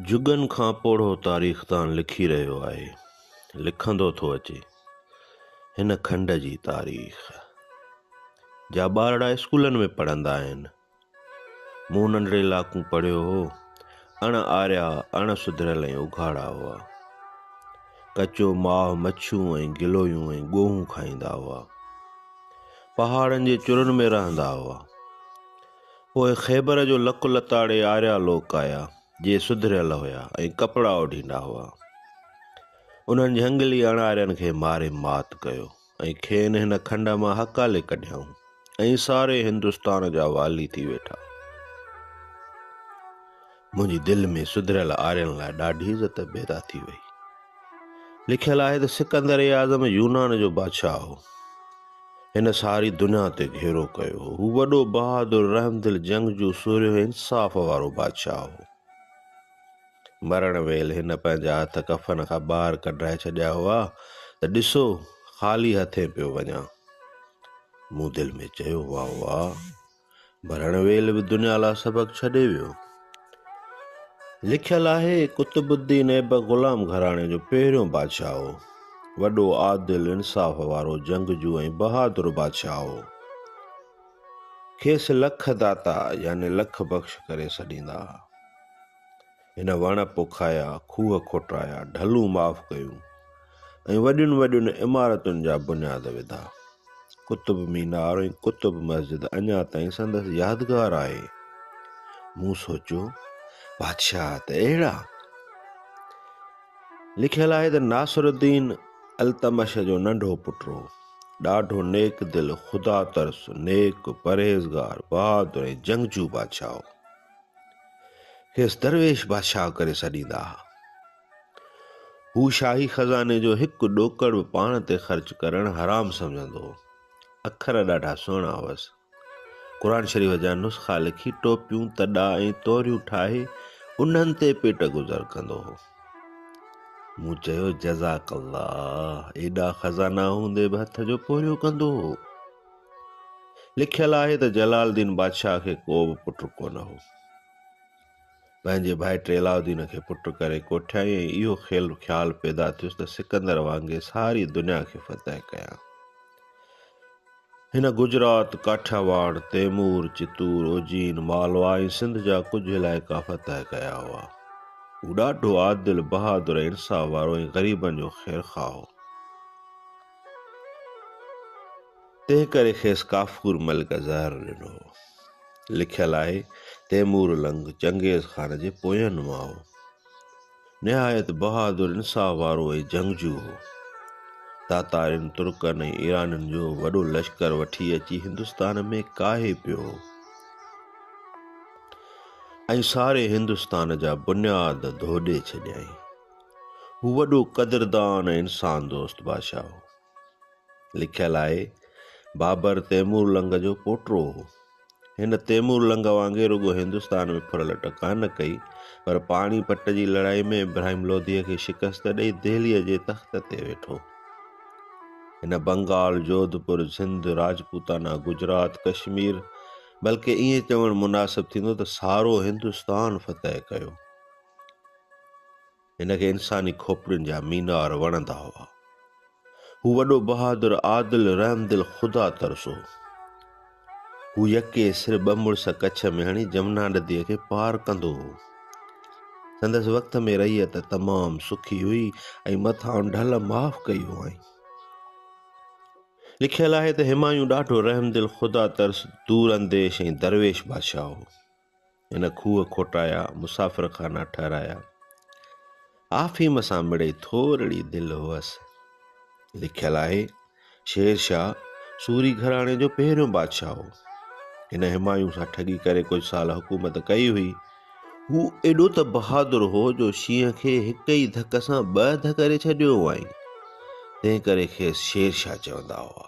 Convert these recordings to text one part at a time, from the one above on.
جڳن کان پوڙهو تاريخدان لکي رهيو آهي، لکندو ٿو اچي هن کنڊ جي تاريخ. جا ٻارڙا اسڪولن ۾ پڙهندا آهن. مون ننڍڙي لاکون پڙهيو هو، اڻ آريا، اڻ سڌريل ۽ اگهاڙا هئا. ڪچو ماهه، مڇيون ۽ گلويون ۽ ڳوهون کائيندا هئا. پهاڙن جي چرن ۾ رهندا هئا. پوء خيبر جو لڪ لتاڙي آريا لوڪ آيا، جي سڌريل هيا ۽ ڪپڙا اوڍيندا هئا. انهن جهنگلي اڻارين کي ماري مات ڪيو ۽ کين هن کنڊ مان هڪالي ڪڍيائون ۽ ساري هندستان جا والي ٿي ويٺا. منهنجي دل ۾ سڌريل آرين لاء ڏاڍي عزت پيدا ٿي وئي. لکيل آهي ته سڪندر اعظم يونان جو بادشاهه هو. هن ساري دنيا تي گهيرو ڪيو هو. هو وڏو بهادر، رحمدل، جنگجو، سورهيو ۽ انصاف وارو بادشاهه هو. مرڻ ويل هن پنهنجا هٿ ڪفن کان ٻاهر ڪڍرائي ڇڏيا هئا ته ڏسو خالي هٿين پيو وڃان. مون دل ۾ چيو، واه واه! ڀرڻ ويل به دنيا لا سبق ڇڏي ويو. لکيل آهي، قطب الدين ايبڪ غلام گهراڻي جو پهريون بادشاهه هو. وڏو عادل، انصاف وارو، جنگجو ۽ بهادر بادشاهه هو. کيس لک داتا يعني لک بخش ڪري سڏيندا ها. هن وڻ پوکايا، کوهه کوٽرايا، ڍلون معاف ڪيون ۽ وڏين وڏين عمارتن جا بنياد وڌا. قطب مينار ۽ قطب مسجد اڃا تائين سندس يادگار آهي. مون سوچيو بادشاهه ته اهڙا لکيل آهي ته ناصر الدين التمش جو ننڍو پٽ هو ڏاڍو نيڪ دل خدا ترس نيڪ پرهيزگار بهادر ۽ جنگجو بادشاهه هو کيس درويش بادشاهه ڪري سڏيندا ها. هو شاهي خزاني جو هڪ ڏوڪڙ به پاڻ تي خرچ ڪرڻ حرام سمجهندو هو. اکر ڏاڍا سهڻا هئس. قرآن شريف جا نسخا لکي ٽوپيون، تڏا ۽ توريون ٺاهي انهن تي پيٽ گذر ڪندو هو. مون چيو جزاڪ الله ايڏا خزانا هوندي به هٿ جو پورهيو ڪندو هو. لکيل آهي ته جلال الدين بادشاهه کي ڪو به پٽ ڪونه هو. پنهنجي ڀائٽي علاء الدين کي پٽ ڪري ڪوٺيائين ۽ اهو خيال پيدا ٿيس ته سڪندر وانگي ساري دنيا کي فتح ڪيان. هن گجرات، ڪاٺياواڙ، تيمور، چتور، اوجين، مالوا ۽ سنڌ جا ڪجهه علائقا فتح ڪيا هئا. هو ڏاڍو عادل، بهادر، انصاف وارو ۽ غريبن جو خيرخواهه هو. تنهن ڪري کيس ڪافور ملڪ زهر ڏنو هو. لکيل آهي، تيمور لنگ چنگيز خان جي پوئين مان هو. نهايت بهادر انصاف وارو ۽ جنگجو هو. تاتارين، ترڪن ۽ ايرانين جو وڏو لشڪر وٺي اچي هندستان ۾ ڪاهي پيو هو ۽ ساري هندستان جا بنياد ڌوڏي ڇڏيائين. هو وڏو قدردان ۽ انسان دوست بادشاهه هو. لکيل آهي، بابر تيمور لنگ جو پوٽو هو. هن تيمور لنگ وانگي رڳو هندستان ۾ ڦرل ٽڪا نه ڪئي، پر پاڻي پٽ جي لڙائي ۾ ابراهيم لوڌيء کي شڪست ڏئي دهليء جي تخت تي ويٺو. هن بنگال، جوڌپور، سنڌ، راجپوتانا، گجرات، ڪشمير بلڪه ائين چوڻ مناسب ٿيندو ته سارو هندستان فتح ڪيو. هن کي انساني کوپڙين جا مينار وڻندا هئا. هو وڏو بهادر، عادل، رحمدل، خدا ترس هو. هو يڪي سر ٻه مڙس ڪڇ ۾ هڻي جمنا نديء کي پار ڪندو هو. سندس وقت ۾ رعيت تمام سکي هئي ۽ مٿان ڍل معاف ڪئي هئائين. لکيل آهي ته همايون ڏاڍو رحمدل، خدا ترس، دور انديش ۽ درويش بادشاهه هو. هن کوهه کوٽايا، مسافر خانا ٺهرايا. آفيم سان مڙئي ٿورڙي دل هئس. لکيل آهي، شير شاهه سوري گهراڻي جو پهريون بادشاهه هو. هن همايون سان ٺڳي ڪري ڪجهه سال حڪومت ڪئي هئي. هو ايڏو ته بهادر هو جو شينهن کي هڪ ئي ڌڪ سان ٻه اڌ ڪري ڇڏيو هئائين. تنهن ڪري کيس شير شاهه چوندا هئا.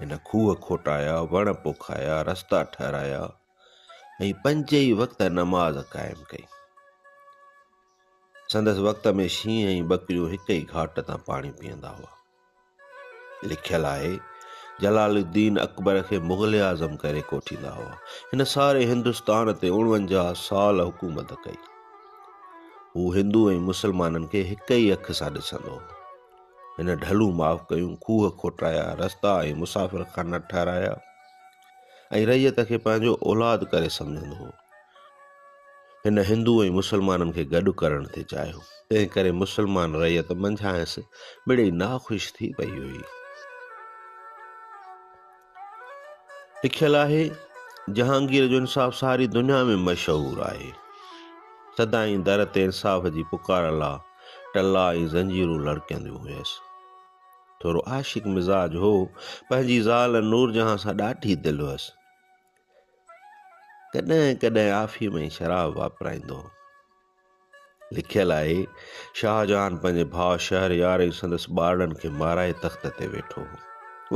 هن کوهه کوٽايا، وڻ پوکايا، رستا ٺهرايا ۽ پنج ئي وقت نماز قائم ڪئي. سندس وقت ۾ شينهن ۽ ٻڪريون هڪ ئي گهاٽ تان پاڻي پيئندا هئا. لکيل آهي، جلال الدين اڪبر کي مغل اعظم ڪري ڪوٺيندا هئا. هن ساري هندستان تي اڻونجاهه سال حڪومت ڪئي. هو هندو ۽ مسلمانن کي هڪ ئي اک سان ڏسندو هو. هن ڍلون معاف ڪيون، کوهه کوٽايا، رستا ۽ مسافر خانه ٺهرايا ۽ رعيت کي پنهنجو اولاد ڪري سمجهندو هو. هن هندو ۽ مسلمانن کي گڏ ڪرڻ ٿي چاهيو، تنهن ڪري مسلمان رعيت منجهانئس مڙئي ناخوش ٿي پئي هئي. لکيل آهي، جهانگير جو انصاف ساري دنيا ۾ مشهور آهي. سدائين در تي انصاف جي پڪار لا ٽلا ۽ زنجيرون لڙڪنديون هيس. ٿورو عاشق مزاج هو، پنهنجي زال نورجهان سان ڏاڍي دل هيس. ڪڏهن ڪڏهن آفيم ۽ شراب واپرائيندو هو. لکيل آهي، شاهجهان پنهنجي ڀاء شهريار ۽ سندس ٻارڙن کي مارائي تخت تي ويٺو هو.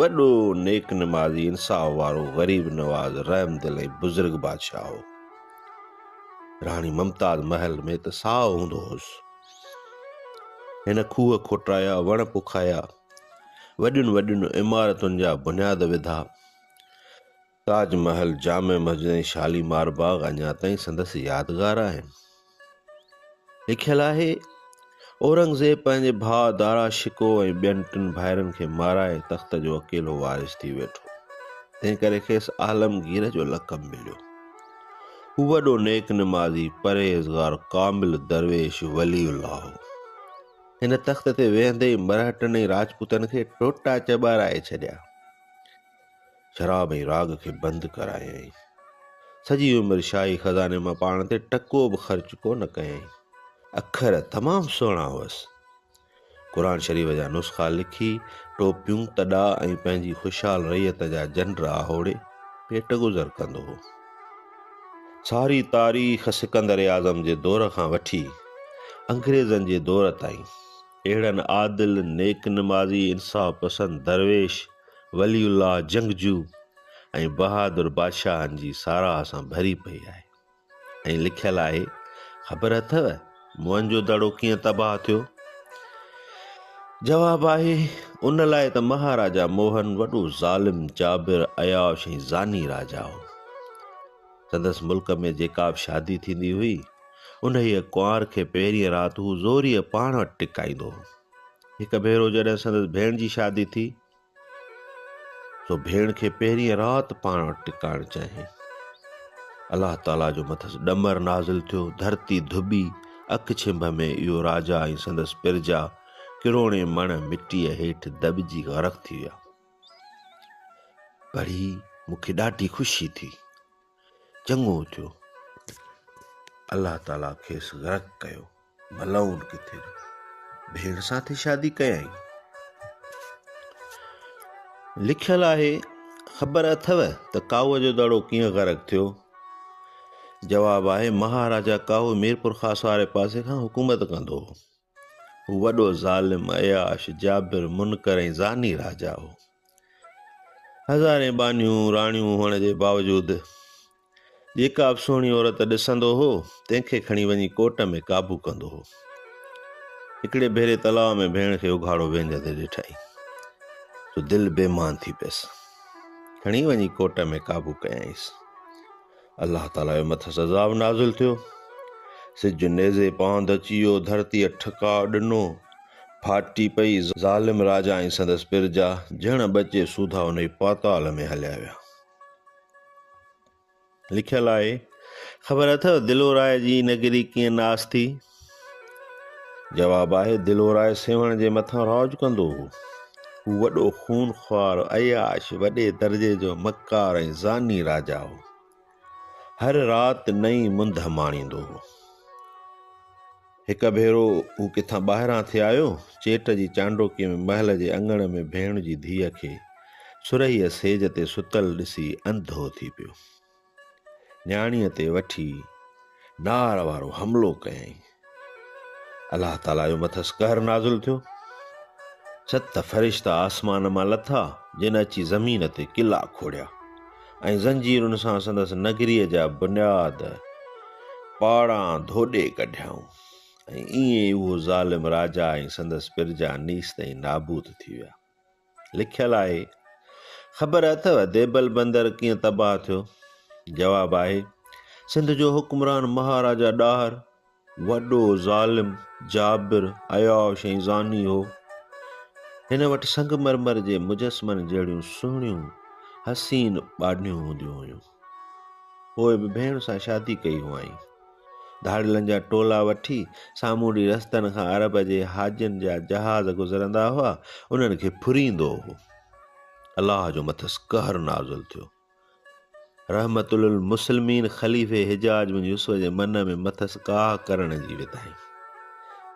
وڏو نيڪ نمازي، انصاف وارو، غريب نواز، رحم دل ۽ بزرگ بادشاهه هو. راڻي ممتاز محل ۾ ته ساهو هوندو هوس. هن کوهه کوٽرايا، وڻ پوکايا، وڏين وڏين عمارتن جا بنياد وڌا. تاج محل، جامع مسجد ۽ شاليمار باغ اڃا تائين سندس يادگار آهن. لکيل آهي، اورنگزيب پنهنجي ڀاء دارا شڪوه ۽ ٻين ٽن ڀائرن کي مارائي تخت جو اڪيلو وارث ٿي ويٺو، تنهن ڪري کيس عالمگير جو لقب مليو. هو وڏو نيڪ نمازي، پرهيزگار، ڪامل، درويش، ولي الله هو. هن تخت تي ويهندي ئي مرهٽن ۽ راجپوتن کي ٽوٽا چٻارائي ڇڏيا. شراب ۽ راڳ کي بند ڪرايائين. سڄي عمر شاهي خزاني مان پاڻ تي ٽڪو به خرچ ڪو نه ڪيائين. اکر تمام سهڻا هئس. قرآن شريف جا نسخا لکي، ٽوپيون، تڏا ۽ پنهنجي خوشحال رعيت جا جنڊ آهوڙي پيٽ گذر ڪندو هو. ساري تاريخ سڪندر اعظم جي دور کان وٺي انگريزن جي دور تائين اهڙن عادل، نيڪ نمازي، انصاف پسند درويش، ولي الله جنگجو ۽ بهادر بادشاهن جي ساراهه سان ڀري پئي آهي ۽ لکيل آهي، خبر اٿئو موهنجو دڙو ڪيئن تباهه ٿيو؟ جواب آهي، ان لاء ته مهاراجا موهن وڏو ظالم، جابر، عياش ۽ زاني راجا هو. سندس ملڪ ۾ جيڪا به شادي ٿيندي هئي، انهيء ڪنوار کي پهرينء رات هو زوريء پاڻ وٽ ٽڪائيندو هو. هڪ ڀيرو جڏهن سندس ڀيڻ جي شادي ٿي سو ڀيڻ کي پهرين رات پاڻ وٽ ٽڪائڻ چاهيائين الله تعاليٰ جو مٿس ڏمر نازل ٿيو ڌرتي ڌٻي اک ڇنڀ ۾ اهو راجا ۽ سندس پرجا ڪروڙين مڻ مٽيء هيٺ دٻجي غرق ٿي ويا پڙهي مون کي ڏاڍي خوشي ٿي چڱو ٿيو الله تعالي کيس غرق ڪيو ملعون ڪٿي جو ڀيڻ سان ٿي شادي ڪيائين لکيل آهي خبر اٿو ته ڪاهو جو دڙو ڪيئن غرق ٿيو جواب آهي مهاراجا ڪاهو ميرپور خاص واري پاسي کان حڪومت ڪندو هو هو وڏو ظالم، عياش، جابر، منڪر ۽ زاني راجا هو. هزارين ٻانهيون، راڻيون، هئڻ جي باوجود جيڪا به سهڻي عورت ڏسندو هو، تنهن کي کڻي وڃي ڪوٽ ۾ قابو ڪندو هو. هڪڙي ڀيري تلاء ۾ ڀيڻ کي اگهاڙو ويهندي ڏٺائين، سو دل بيمان ٿي پيس. کڻي وڃي ڪوٽ ۾ قابو ڪيائينس. الله تعاليٰ جي مٿس عذاب نازل ٿيو، سج نيزي پاند اچي ويو، ڌرتيء ٺڪاء ڏنو، ڦاٽي پئي، ظالم راجا ۽ سندس پرجا جهڙ ٻچي سوڌا ان ئي پاتال ۾ هليا ويا. لکيل آهي، خبر اٿئو دلورائي جي نگري ڪيئن ناس ٿي؟ جواب آهي دلورائي سيوهڻ جي مٿان راج ڪندو هو. هو وڏو خونخوار، عياش، وڏي درجي جو مڪار ۽ زاني راجا هو. هر رات نئين منڌ ماڻيندو هو. هڪ ڀيرو هو ڪٿان ٻاهران ٿي آيو، چيٽ جي چانڊوڪي ۾ محل جي اڱڻ ۾ ڀيڻ جي ڌيء کي سرهيء سيج تي ستل ڏسي انڌو ٿي پيو. نياڻيء تي وٺي نار وارو حملو ڪيائين. الله تعاليٰ جو مٿس قهر نازل ٿيو. ست فرشتا آسمان مان لٿا جن اچي زمين تي قلعا کوڙيا ۽ زنجيرن سان سندس نگريء جا بنياد پاڙان ڌوڏي ڪڍيائون ۽ ائين ئي اهو ظالم راجا ۽ سندس پرجا نيست ۽ نابود ٿي ويا. لکيل آهي. خبر اٿو ديبل بندر ڪيئن تباهه ٿيو؟ جواب آهي سنڌ جو حڪمران مهاراجا ڏاهر وڏو ظالم جابر عياش ۽ زاني هو. هن وٽ سنگ مرمر جي مجسمن جهڙيون سهڻيون حسين ٻاڏنيون هونديون هيون. پوء به ڀيڻ سان شادي ڪئي هئائين. ڌاڙيلن جا ٽولا وٺي سامونڊي رستن کان عرب جي حاجين جا جهاز گذرندا هئا، انهن کي ڦريندو هو. الله جو مٿس قهر نازل ٿيو. رحمت للمسلمين خليفي حجاج بن يوسف جي من ۾ مٿس ڪاهه ڪرڻ جي وڌائين.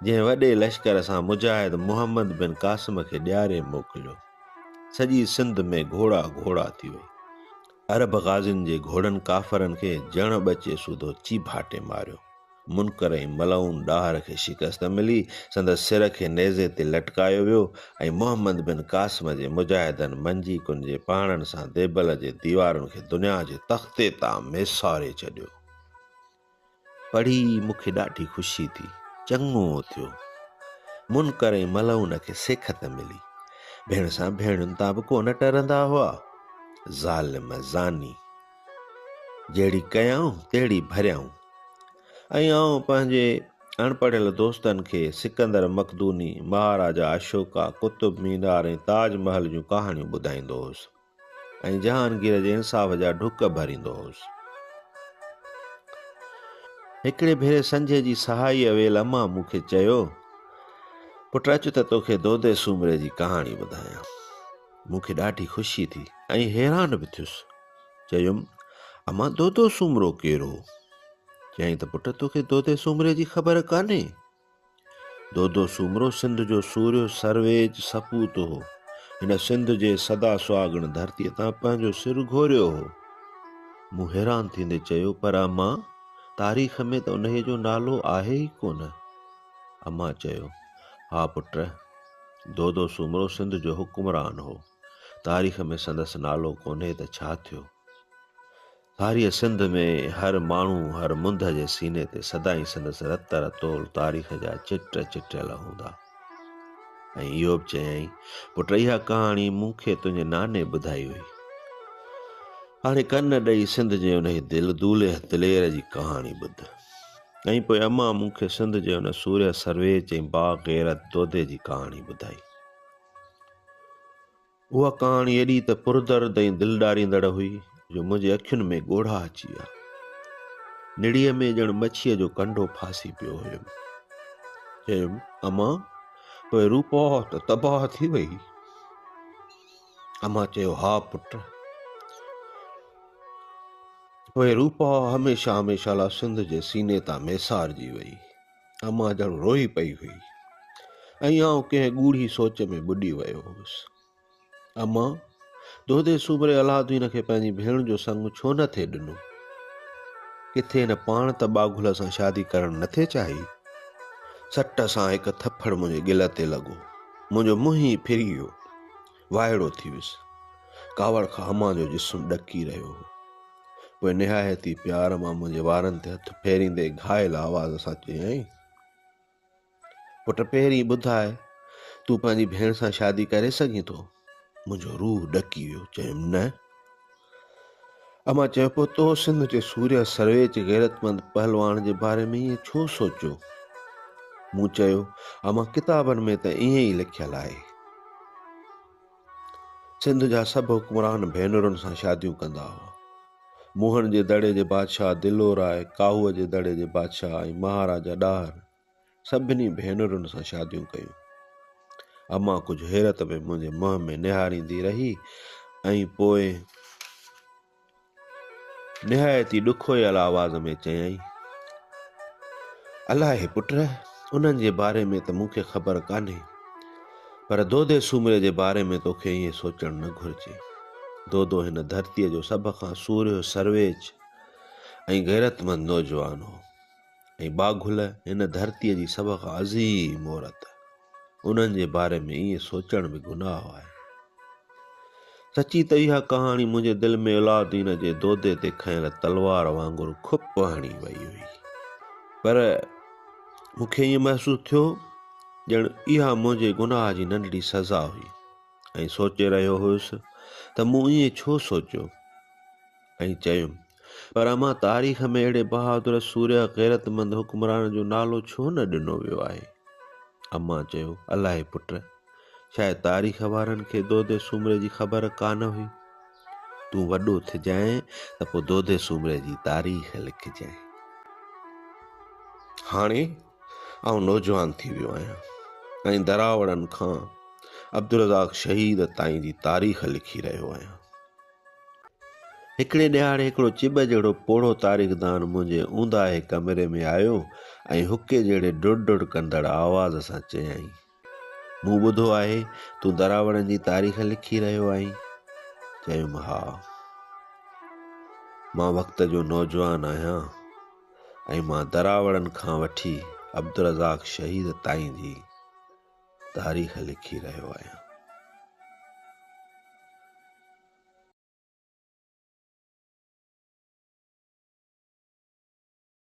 جنهن وڏي لشڪر سان مجاهد محمد بن قاسم کي ڏياري موڪليو. سڄي سنڌ ۾ گهوڙا گهوڙا ٿي وئي. عرب غازين جي گهوڙن ڪافرن کي جڻ ٻچي سوڌو چيڀاٽي ماريو. منڪر ۽ ملعون ڏاهر کي شڪست ملي، سندس سر کي نيزي تي لٽڪايو ويو ۽ محمد بن قاسم جي مجاهدن منجي ڪنجي پاڻن سان ديبل جي ديوارن کي دنيا جي تختي تان ميساري ڇڏيو. پڙهي مون کي ڏاڍي خوشي ٿي. چڱو ٿيو منڪر ۽ ملعون کي سيکت ملي. ڀيڻ سان ڀيڻين تان به ڪونه ٽرندا هئا. ظالم زاني. جهڙي ڪيائون تهڙي ڀريائون. ۽ آئون پنهنجي اڻپڙهيل دوستن کي سڪندر مقدوني، مهاراجا اشوڪا، قطب مينار ۽ تاج محل جون ڪهاڻيون ٻڌائيندو هوس. ۽ جهانگير جي انصاف جا ڍڪ ڀريندو هوس. هڪڙي ڀيري سنجهي جي سهائي اويل امان مون کي چيو، پٽ اچ ته توکي دودي سومري جي ڪهاڻي ٻڌايان. مون کي ڏاڍي خوشي ٿي ۽ حيران به ٿيس. چيم، امان دودو سومرو ڪير هو؟ چيائين ته پٽ توکي دودي سومري جي خبر ڪانهي. دودو سومرو سنڌ جو سورهيو سرويچ سپوت هو. هن سنڌ جي سدا سهاڳڻ ڌرتيء تان پنهنجو سر گهوريو هو. مون حيران ٿيندي چيو، پر اما، تاريخ ۾ ته انهيء جو نالو آهي ئي ڪونه. اما چيو، ها پٽ، دودو سومرو سنڌ جو حڪمران هو. تاريخ ۾ سندس نالو ڪونهي ته ڇا ٿيو؟ ڌاريء سنڌ ۾ هر ماڻهو هر منڌ جي سيني تي سدائين سندس رت رتول تاريخ جا چٽ چٽيل هوندا. ۽ اهو به چيائين، پٽ اها ڪهاڻي مون کي تنهنجي ناني ٻڌائي هئي. هاڻي ڪن ڏئي سنڌ جي انهي دل دولهه دلير جي ڪهاڻي ٻڌ. ۽ پوء امان مون کي سنڌ جي ان سورهيه سرويچ ۽ باغ غيرت دودي جي ڪهاڻي ٻڌائي. اها ڪهاڻي ايڏي ته پردرد ۽ دل ڏاريندڙ هئي جو منهنجي اکين ۾ ڳوڙها اچي ويا. نڙيء ۾ ڄڻ مڇيء جو ڪنڊو ڦاسي پيو هيم. چيم، اما پوء روپو ته تباهه ٿي وئي؟ اما چيو، ها پٽ. پوء روپا هميشه هميشه لا سنڌ جي سيني تان ميسارجي وئي. امان ڄڻ روئي پئي هئي ۽ آئون ڪنهن ڳوڙهي سوچ ۾ ٻڏي ويو هوس. امان، دودي سومري الادين کي پنهنجي ڀيڻ جو سڱ ڇو نه ٿي ڏنو؟ ڪٿي هن پاڻ ته ٻاگهل سان شادي ڪرڻ نه ٿي چاهي؟ سٽ سان هڪ ٿڦڙ منهنجي ڳل تي لڳو. منهنجو منهن ئي ڦري ويو. وائڙو ٿي ويس. ڪاوڙ کان هما جو جسم ڏڪي رهيو هو. پوء نهايت ئي پيار مان منهنجي وارن تي هٿ ڦيريندي گهائل آواز سان چيائين، پٽ پهرين ٻڌاء تون پنهنجي ڀيڻ سان شادي ڪري سگهين ٿو؟ منهنجو روح ڏڪي ويو. چيم نه. امان چيو پوء تو سنڌ جي سوريا سرويچ غيرتمند پهلوان جي باري ۾ ائين ڇو سوچيو؟ مون چيو امان ڪتابن ۾ ته ائين ئي لکيل آهي. سنڌ جا سڀ حڪمران ڀينرن سان شاديون ڪندا هئا. موهن جي دڙي جي بادشاهه دلو راء، ڪاهوء جي دڙي جي بادشاهه ۽ مهاراجا ڏاهر سڀني ڀينرن سان شاديون ڪيون. امان ڪجهه حيرت ۾ منهنجي منهن ۾ نهاريندي رهي ۽ پوء نهايت ئي ڏکويل آواز ۾ چيائين، الاهي پٽ، انهن جي باري ۾ ته مون کي خبر ڪانهي، پر دودي سومري جي باري ۾ تو کي ائين سوچڻ نه گهرجي. دودو هن ڌرتيء جو سڀ کان سورهيو، سرويچ ۽ غيرتمند نوجوان هو. ۽ ٻاگهل هن ڌرتيء جي سڀ کان عظيم عورت. انهن جي باري ۾ ائين سوچڻ به گناهه آهي. سچي ته اها ڪهاڻي منهنجي دل ۾ علاؤالدين جي دودي تي کنيل تلوار وانگر کپ هڻي وئي هئي. پر مون کي ائين محسوس ٿيو ڄڻ اها منهنجي گناهه جي ننڍڙي سزا هئي ۽ سوچي رهيو هيس ته مون ائين ڇو سوچيو ۽ چيم. پر امان تاريخ ۾ اهڙي بهادر سورهيه غيرتمند حڪمران جو نالو ڇو نه ڏنو ويو آهي؟ امان چيو الاهي پٽ شايد تاريخ وارن کي دودي سومري جي خبر ڪانه هئي. تون وڏو ٿجانء ته پوء دودي سومري جي تاريخ لکجانء. هاڻي آئون نوجوان ٿي ويو آهيان ۽ دراوڙن کان عبدالرزاق شهيد تائين جي تاريخ لکي رهيو آهيان. هڪڙي ڏهاڙي هڪڙو چٻ جهڙو پوڙهو تاريخدان منهنجي اونداهي ڪمري ۾ آيو ۽ حقي جهڙي ڊڙ ڊڙ ڪندڙ آواز سان چيائين، مون ٻڌو آهي تون دراوڙن جي تاريخ لکي رهيو آهين؟ چيم، ها. مان وقت جو نوجوان آهيان ۽ مان دراوڙن کان وٺي عبدالرزاق شهيد تائين جي تاريخ لکي رهيو آهيان.